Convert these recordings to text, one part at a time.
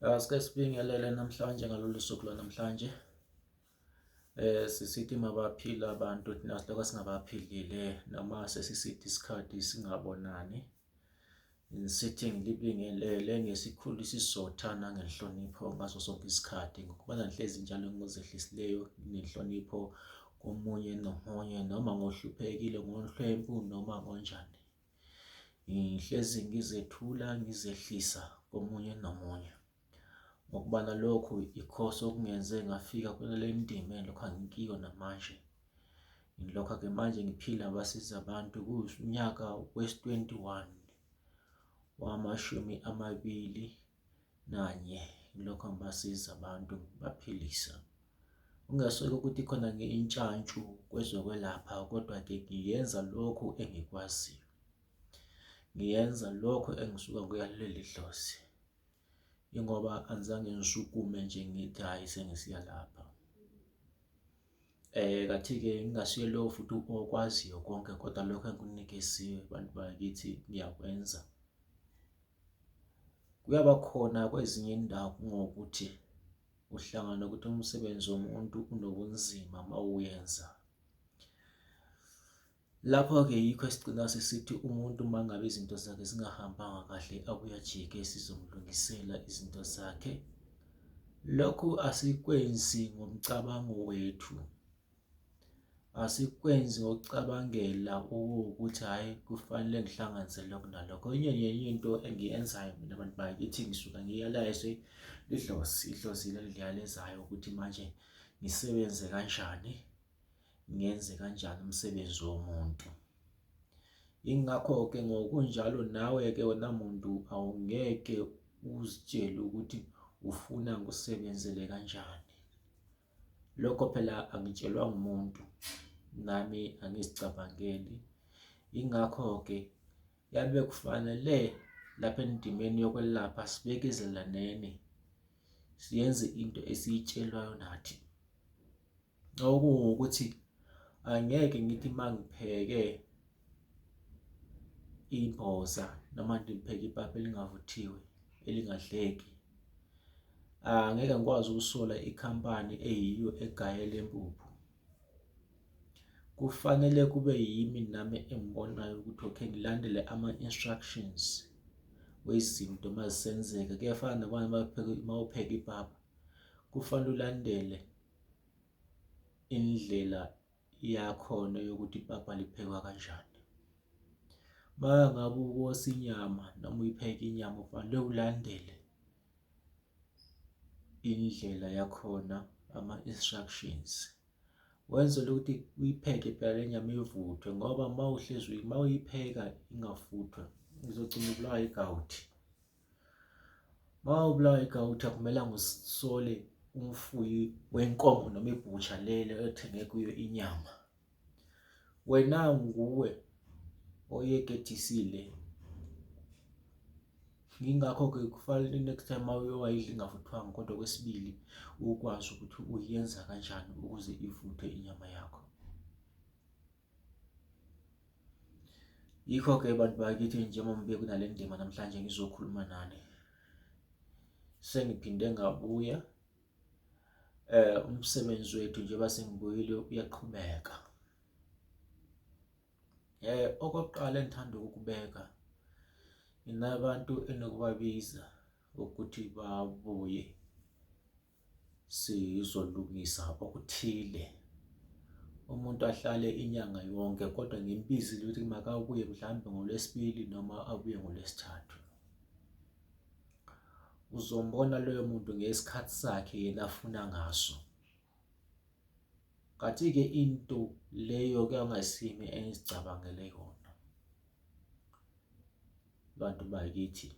Eh, sike sibingelele namhlanje ngalolu suku lwanamhlanje eh sisithi mabaphila abantu thina siloko singabaphilile noma sesisithi isikhathi singabonani sithi ngilibingelele ngesikhulu isizotha nangenhlonipho ngaso sonke isikhathi ngokuba nanhlezi njalo ngozehlisileyo nenhlonipho komunye nomunye noma ngohluphekile ngonhlwempu noma ngonjani Ngihlezi ngizethula ngizehlisa komunye nomunye. Ngokuba nalokhu ikhoso okungenze ngafika kulele ndima lokho angikiyo namanje. Ngilokho-ke manje ngiphila basiza abantu kuwunyaka wesi-21 wamashumi amabili nanye lokho angibasiza abantu ngibaphilisa. Kungeswela ukuthi khona ngintshantshu kwezokwelapha kodwa-ke ngiyenza lokhu engikwaziyo. Ngiyenza lokho engisuka kuyaleli dlozi. Ingoba angizange ngisukume nje ngithi hhayi sengisiya lapha. Kathi-ke ngingasuye lowo futhi okwaziyo konke kodwa lokho engikunikeziwe bantu bakithi ngiyakwenza. Kuyaba khona kwezinye indawo kungokuthi uhlangana nokuthi umsebenzi womuntu unobunzima uma uwenza. Lapho-ke yikho esigcina sesithi umuntu uma ngabe izinto zakhe zingahambanga kahle abuye ajike sizomlungisela izinto zakhe. Lokhu asikwenzi ngomcabango wethu. Asikwenzi ngokucabangela ukuthi hhayi kufanele ngihlanganise lokhu nalokho. Enye nenye into engiyenzayo mina bantu bakithi ngisuka ngiyalayize idlozi, idlozi elingiyalezayo ukuthi manje ngisebenze kanjani, ngenze kanjani umsebenzi womuntu. Ingakho-ke ngokunjalo nawe-ke wena muntu awungeke uzitshele ukuthi ufuna ngikusebenzele kanjani. Lokho phela angitshelwa ngumuntu, nami angizicabangeli. Yingakho-ke yabe kufanele lapha endimeni yokwelapha sibekezelaneni, siyenze into esiyitshelwayo nathi. Okungukuthi angeke ngithi uma ngipheke Ibhoza noma ndipheke ipapa elingavuthiwe elingadleki. Angeke ngikwazi ukusola ikhampani eyiyo egaye le mpuphu. Kufanele kube yimi nami engibonayo ukuthi okay ngilandele ama-instructions wezinto uma zisenzeka. Kuyafana nabanye uma upheka ipapa, kufanele ulandele indlela Iyakhona yokuthi ipapa liphekwa kanjani. Uma ngabe ukosa inyama noma uyipheka inyama ufanele ulandele indlela yakhona ama-instructions wenzele ukuthi uyipheke phela le nyama ivuthwe ngoba uma uhlezi uma uyipheka ingafuthwa izogcina ubulawa igawuthi. Uma ubulawa igawuthi akumelanga usole umfuyi wenkomo noma ibhutsha lelo othenge kuyo inyama. Wena nguwe oyekethisile. Yingakho-ke kufanele next time uma uyowayidla ingavuthwanga kodwa okwesibili ukwazi ukuthi uyenza kanjani ukuze ivuthwe inyama yakho. Yikho-ke bantu bakithi njengoba ngibe kunale ndima namhlanje ngizokhuluma nani. Sengiphinde ngabuya eh umsebenzi wethu njengoba sengibuyile uyaqhubeka. Eh okokuqala engithanda ukubeka inabantu enokubabiza ukuthi babuye sizolungisa okuthile umuntu ahlale inyanga yonke kodwa ngimbizi ukuthi makabuye mhlawumbe ngolwesibili noma abuye ngolwesithathu uzombona loyo muntu ngesikhathi sakhe yena afuna ngaso kathi-ke into leyo kuyangasimi engizicabangele yona bantu bakithi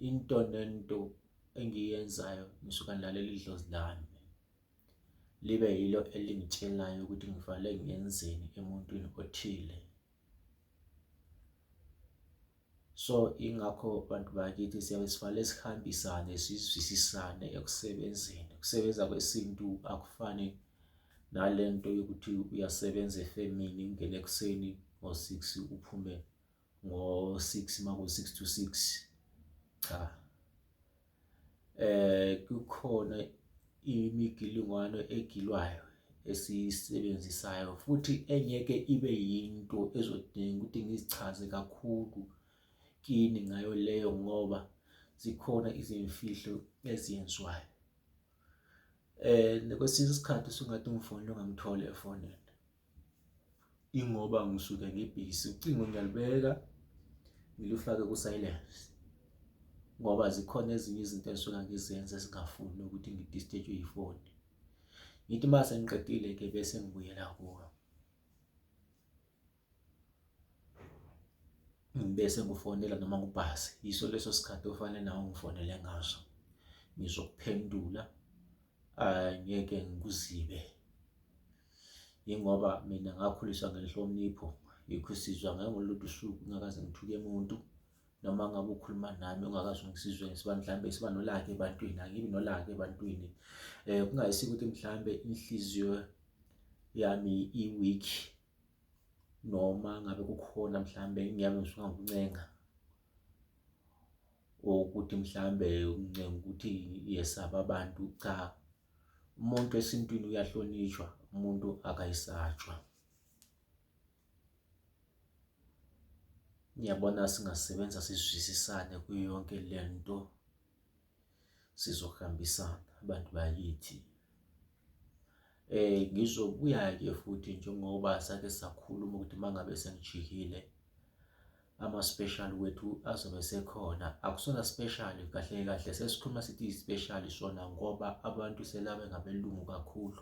into nento engiyenzayo ngisuka ngilalela idlozi lami libe yilo elingitshelayo ukuthi ngivale ngenzeni emuntwini othile so ingakho bantu bakithi siyabe sivale sihambisane sizwisisane ekusebenzeni ukusebenza kwesintu akufani nale nto yokuthi uyasebenza efemini ungene ekuseni ngo-six uphume ngo-six maku-six to six cha eh kukhona imigilingwano egilwayo esiyisebenzisayo futhi engeke ibe yinto ezodinga ukuthi ngizichaze kakhulu kini ngayo leyo ngoba zikhona izimfihlo eziyenziwayo um kwesinye isikhathi usungathi umfowenu ongamtholi efonini. Ingoba ngisuke ngibhizi, ucingo ngiyalibeka ngilufake ku-silence ngoba zikhona ezinye izinto engisuke ngizenza ezingafuni ukuthi ngidisteshwe yifoni. Ngithi uma sengiqedile-ke bese ngibuyela kuyo. Ngibese ngifonela noma ngubhasi, yiso leso sikhathi ofanele nawe ungifonele ngaso. Ngizokuphendula, angeke ngikuzibe. Yingoba mina ngakhuliswa ngenhlonipho, yikho isizwe angeke ngolunye usuku ngingakaze ngithuke muntu, noma ngabe ukhuluma nami ungakaze ungizizwe mhlawumbe siba nolaka ebantwini, angibi nolaka ebantwini. Kungayisiko ukuthi mhlawumbe inhliziyo yami i-weak noma ngabe kukhona mhlawumbe engiyami ngisuke ngikuncenga or ukuthi mhlawumbe uncenga ukuthi yesaba abantu, cha. umuntu esintwini uyahlonishwa umuntu akayisatshwa ngiyabona singasebenza sizwisisane kuyo yonke le nto sizohambisana abantu bakithi eh ngizobuya-ke futhi njengoba sake sakhuluma ukuthi uma ngabe sengijikile ama-special wethu azobe sekhona akusona special kahle kahle sesikhuluma sithi i-special sona ngoba abantu selabe ngabelungu kakhulu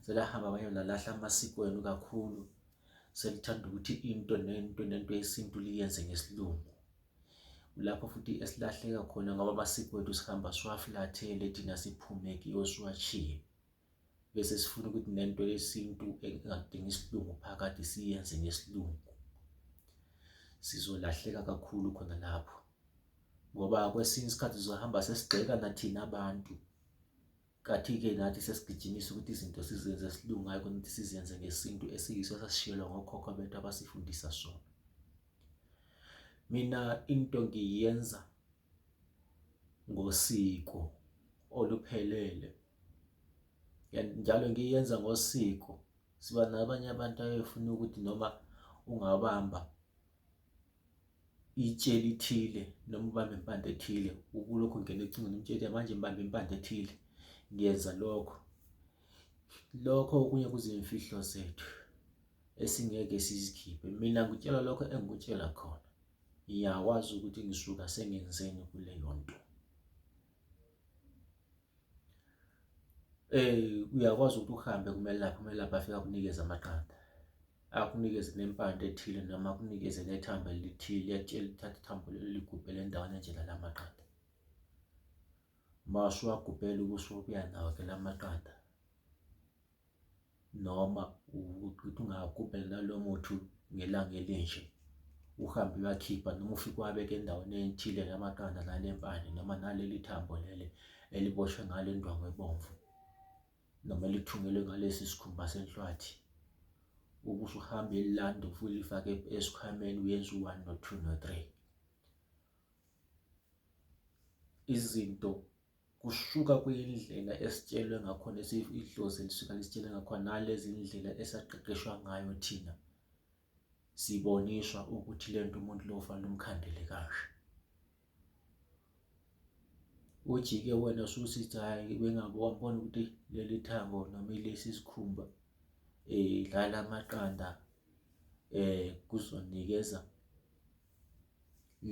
selahamba abanye nalahla amasiko wenu kakhulu selithanda ukuthi into nento nento yesintu liyenze ngesilungu lapho futhi esilahleka khona ngoba amasiko wethu sihamba siwaflathele thina siphume kiwo siwashiye bese sifuna ukuthi nento yesintu engadingi isilungu phakathi siyenze ngesilungu sizolahleka kakhulu khona lapho ngoba kwesinye isikhathi sizohamba sesigxeka nathina abantu kathi-ke nathi sesigijimisa ukuthi izinto sizenze esilungu hayi kunokuthi sizenze ngesintu esiyiso esasishiyelwa ngokhokho bethu abasifundisa sona mina into ngiyenza ngosiko oluphelele and njalo ngiyenza ngosiko. Siba nabanye abantu abefuna ukuthi noma ungabamba itshe elithile noma ubambe impande ethile, ukulokhu ungena ecingweni umtshele manje ngibambe impande ethile, ngiyenza lokho. Lokho okunye kuziyimfihlo zethu esingeke sizikhiphe. Mina ngikutshela lokho engikutshela khona. ngiyakwazi ukuthi ngisuka sengenzeni kuleyo nto eh uyakwazi ukuthi uhambe kumelaphi umelaphi afika kunikeza amaqanda akunikeze nempande ethile noma akunikeze nethamba elithile yatshela uthatha ithambo lelo ligubhele endaweni enjena la maqanda masho wagubhela ubusubuya nawo ke la maqanda noma ukuthi ungagubhela nalowo muthi ngelanga elinje, uhambe uyakhipha noma ufike uwabeke endaweni ethile la maqanda nale mpande noma naleli thambo leli eliboshwe ngale ndwangu ebomvu noma elithungelwe ngalesi sikhumba senhlwathi. Ube usuhamba elilanda ulifake esikhwameni uyenza u-one no-two no-three. Izinto kusuka kuyindlela esitshelwe ngakhona idlozi elisuka lisitshele ngakhona nalezi ndlela esaqeqeshwa ngayo thina siboniswa ukuthi le nto umuntu lo fanele umkhandele kashe ujike wena ususithi hhayi bengabe wambona ukuthi leli thango noma ilesi sikhumba um eh, lala amaqanda um kuzoninikeza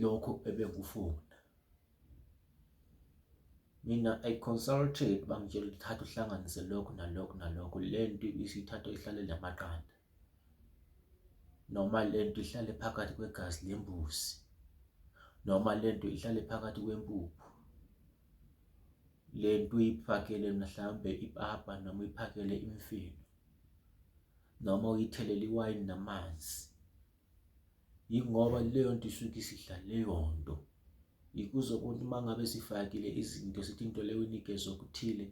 lokho ebengufuna Mina I consulted bangitshela ukuthi thatha uhlanganise lokhu nalokhu nalokhu, le nto isithatha ihlale namaqanda noma le nto ihlale phakathi kwegazi lembuzi noma le nto ihlale phakathi kwempuphu. Le nto uyifakele mhlawumbe ipapa noma uyiphakele imifino noma uyithelele iwayini namanzi. yingoba leyo nto isuke isidla leyo nto ikuze ukuthi uma ngabe sifakile izinto sithi into leyo inikeza okuthile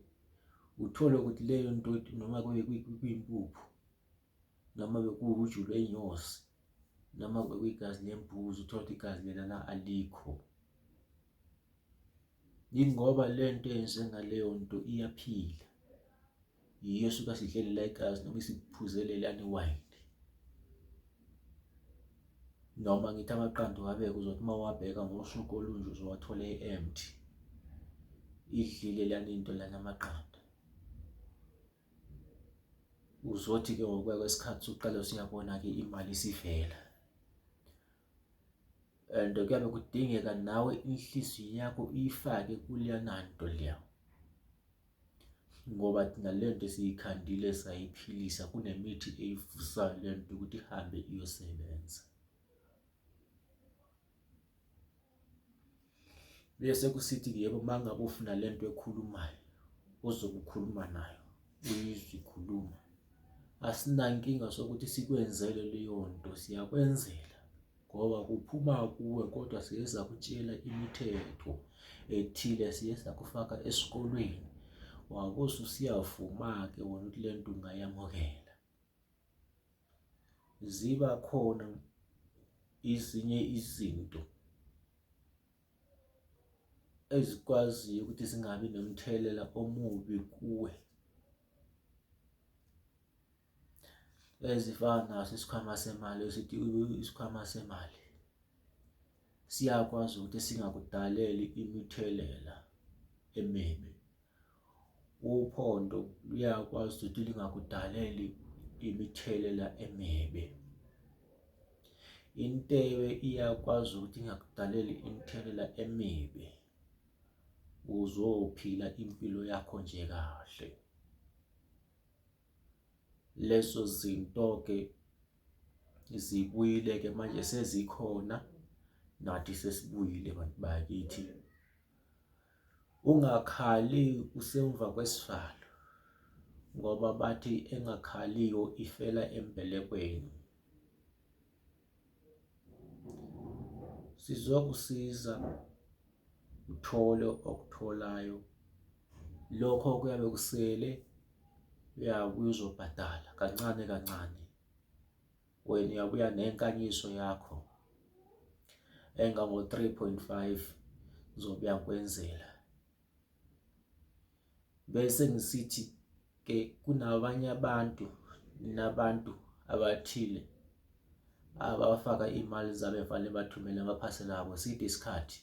uthole ukuthi leyo nto noma kube kuyimpuphu noma bekuwuju lwenyosi noma bekuyigazi lembuzi uthole ukuthi igazi lelana alikho yingoba le nto eyenze ngaleyo nto iyaphila yiyo suke asidlelela igazi noma isiphuzele lani wine noma ngithi amaqanda uwabeke uzothi uma uwabheka ngosuku olunje uzowathole e-empty idlile lana into lana amaqanda uzothi-ke ngokuya kwesikhathi usuqale usuyabona-ke imali isivela and kuyabe kudingeka nawe inhliziyo yakho uyifake kuleyana nto leya ngoba thina le nto siyikhandile sayiphilisa kunemithi eyivusayo le nto ukuthi ihambe iyosebenza bese kusithi yebo uma ngabe ufuna le nto ekhulumayo ozobe ukhuluma nayo uyizwe ikhuluma asinankinga sokuthi sikwenzele leyo nto siyakwenzela ngoba kuphuma kuwe kodwa siye sakutshela imithetho ethile siye sakufaka esikolweni wakoze usiyavuma-ke wona ukuthi le nto ungayamukela ziba khona ezinye izinto ezikwaziyo ukuthi zingabi nomthelela omubi kuwe ezifana naso isikhwama semali esithi isikhwama semali siyakwazi ukuthi singakudaleli imithelela emibi Uphondo luyakwazi ukuthi lingakudaleli imithelela emibi. Intebe iyakwazi ukuthi ingakudaleli imithelela emibi. Uzophila impilo yakho nje kahle. Lezo zinto-ke zibuyile-ke manje sezikhona nathi sesibuyile bantu bakithi. Ungakhali usemva kwesivalo ngoba bathi engakhaliyo ifela embelekweni. Sizokusiza uthole okutholayo lokho kuyabe kusele uyakuzobhadala kancane kancane. wena uyabuya nenkanyiso yakho engango-3.5 ngizobuya ngikwenzela bese ngisithi ke kunabanye abantu nabantu abathile abafaka imali zabo efanele bathumele amaphasela abo siphi isikhathi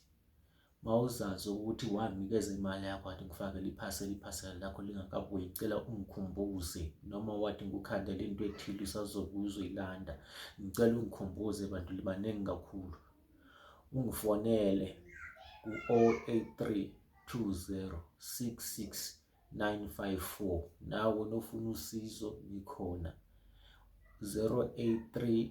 Mawuzazi ukuthi wanikeza imali yakho wathi ngifakele iphasela iphasela lakho lingakabuyi cela ungikhumbuze noma wathi ngikukhandele into ethile usazobuya uzoyilanda ngicela ungikhumbuze bantu libaningi kakhulu ungifonele ku-083 2066 954 nawe nofuna usizo ngikhona 083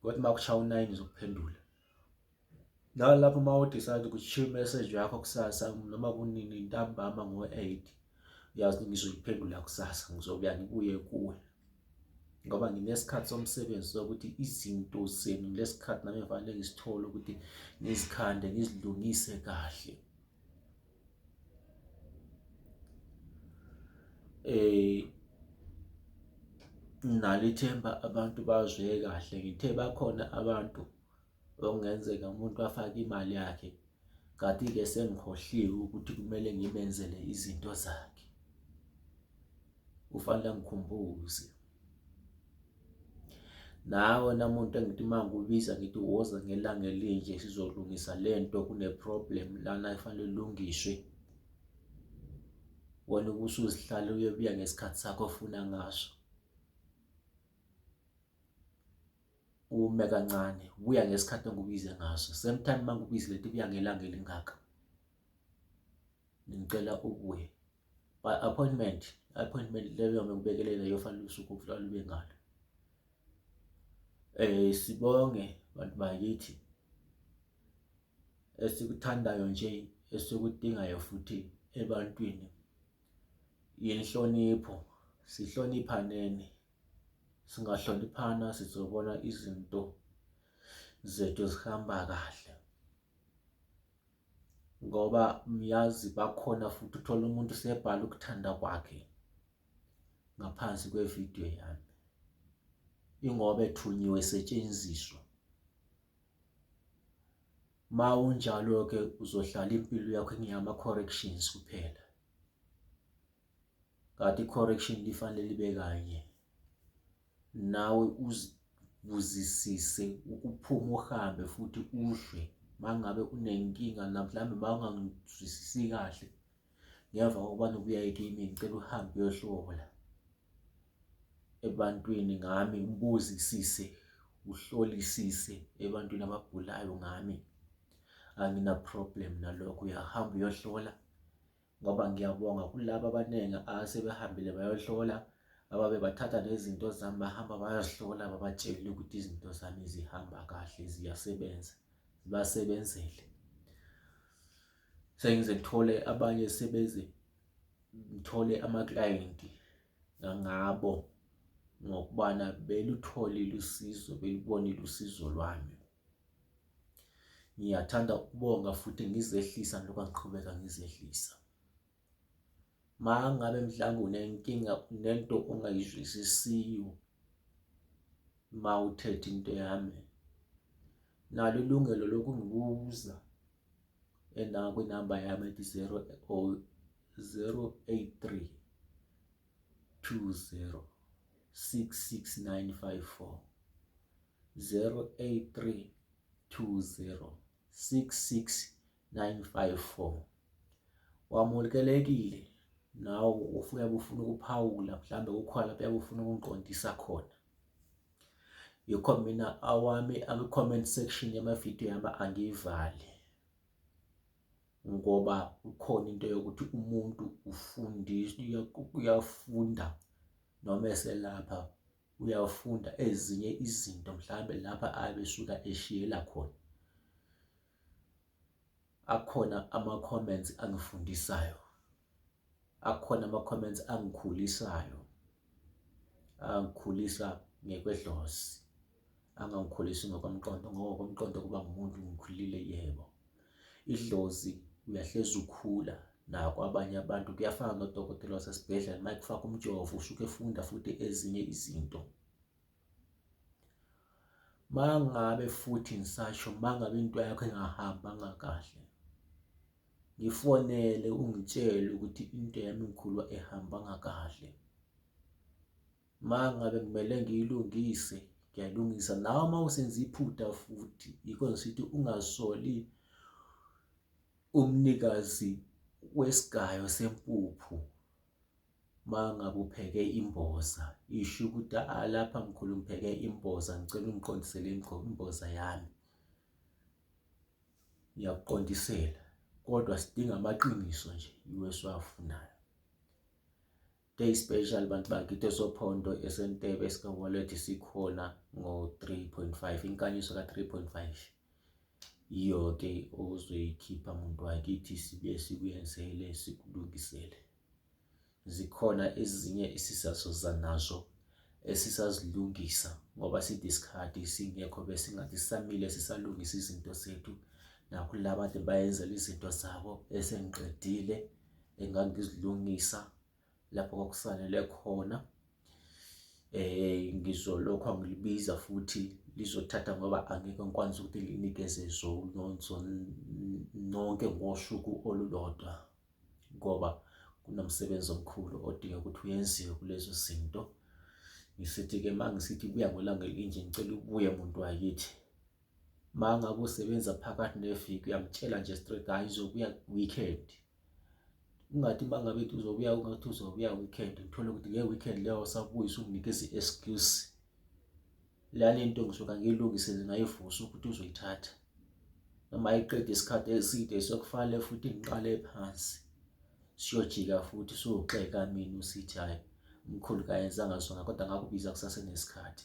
Kodwa uma kushaya u-nine uzokuphendula. Nawe lapho uma udecide ukuthi shiya imeseji yakho kusasa noma kunini ntambama ngo-eight uyazi ukuthi ngizoliphendula kusasa ngizobuya ngibuye kuwe ngoba nginesikhathi somsebenzi sokuthi izinto zenu ngilesikhathi nami ngifanele ngisithole ukuthi ngizikhande ngizilungise kahle Eh, nginalo ithemba abantu bazwe kahle ngithe bakhona abantu okungenzeka umuntu afake imali yakhe kanti-ke sengikhohliwe ukuthi kumele ngimenzele izinto zakhe kufanele angikhumbuze. Nawe namuntu engithi uma ngikubiza ngithi woza ngelanga elinje sizolungisa le nto kune-problem lana efanele ilungiswe. Wena ubusuzihlala uyobuya ngesikhathi sakho ofuna ngaso. Ume kancane, buya ngesikhathi engikubize ngaso. Same time uma ngikubize lethi buya ngelanga elingaka. Ngicela ubuye. by appointment appointment leyo yokubekelelela yofanele usuku olube ngalo eh sibonge bantu bakithi esikuthandayo nje esikudingayo futhi ebantwini yenhlonipho sihloniphaneni singahloniphana sizobona izinto zethu zihamba kahle ngoba uyazi bakhona futhi uthola umuntu sebhala ukuthanda kwakhe ngaphansi kwevidiyo yami ingoba ethunyiwe esetshenziswa ma unjalo-ke uzohlala impilo yakho ingeyama-corrections kuphela Kade i-correction lifanele libe kanye. Nawe uzibuzisise ukuphuma uhambe futhi uzwe mangabe unenkinga la mhlawumbe bangangizwisisi kahle ngemva kokuba nobuyaye kimi ngicela uhambe uyohlola ebantwini ngami ubuzisise uhlolisise ebantwini abagulayo ngami angina problem nalokho uyahamba uyohlola ngoba ngiyabonga kulabo abaningi asebehambile bayohlola ababe bathatha nezinto zami bahamba bayazihlola babatshele ukuthi izinto zami zihamba kahle ziyasebenza zibasebenzele sengize ngithole abanye sebeze ngithole amaklayenti ngangabo ngokubana belutholile usizo belubonile usizo lwami Ngiyathanda ukubonga futhi ngizehlisa njengoba ngiqhubeka ngizehlisa. Uma ngabe mhlawumbe unenkinga nento ongayizwisisiyo uma uthethe into yami nalo ilungelo lokungibuza ena kwinamba yami ethi 083 20 66954 083 20 66954 wamukelekile nawe ufuya kufuna ukuphawula mhlambe ukhona lapho yakufuna ukungiqondisa khona yikho mina awami akwi-comment section yamavidiyo yami angiyivali ngoba kukhona into yokuthi umuntu ufundiswa uyafunda noma eselapha uyafunda ezinye izinto mhlawumbe lapha abesuka eshiyela khona. Akhona ama-comments angifundisayo, akhona ama-comments angikhulisayo, angikhulisa ngekwedlozi, angangikhulisi ngokomqondo ngoba ngokomqondo kuba ngumuntu ngikhulile, yebo. Idlozi uyahlezi ukhula naku abanye abantu kuyafana nodokotela wasesibhedlela uma ekufaka umjovo usuke efunda futhi ezinye izinto mangabe futhi ngisasho mangabe into yakho engahambanga kahle ngifonele ungitshele ukuthi into yami ngikhulwa ehambanga kahle Uma ngabe kumele ngiyilungise ngiyalungisa nawe uma usenza iphutha futhi yikho ngisithi ungasoli umnikazi wesigayo sempuphu uma ngabe upheke imboza isho ukuthi alapha mkhulu ngipheke imboza ngicela ungiqondisele imboza yami ngiyakuqondisela kodwa sidinga amaqiniso nje iwe siwafunayo Day special bantu bakithi esophondo esentebe esikawalet sikhona ngo-3.5 inkanyiso ka-3.5 yiyo-ke ozoyikhipha muntu wakithi sibe sikuyenzele sikulungisele zikhona ezinye esisazoza nazo esisazilungisa ngoba side isikhathi singekho besingathi sisamile sisalungisa izinto zethu nakho labantu bayenzela izinto zabo esengiqedile engangizilungisa lapho kwakusanele khona eh ngizolokhu angilibiza futhi lizothatha ngoba angeke ngikwazi ukuthi linikeze nonke ngosuku olulodwa ngoba kunomsebenzi omkhulu odinga ukuthi uyenziwe kulezo zinto. Ngisithi-ke uma ngisithi buya ngolanga elinje ngicela ubuye muntu wakithi. Uma ngabe usebenza phakathi neviki uyamtshela nje straight hhayi uzobuya weekend. Ungathi uma ngabe ethi uzobuya ungathi uzobuya weekend uthole ukuthi nge weekend leyo usabuya usunginikeza i-excuse. Lale nto ngisuke angiyilungise ngayivusa ukuthi uzoyithatha. Noma ayiqede isikhathi eside sekufanele futhi ngiqale phansi. Siyojika futhi siyoxeka mina usithi hhayi umkhulu kayenzanga sona kodwa ngakubiza kusasenesikhathi.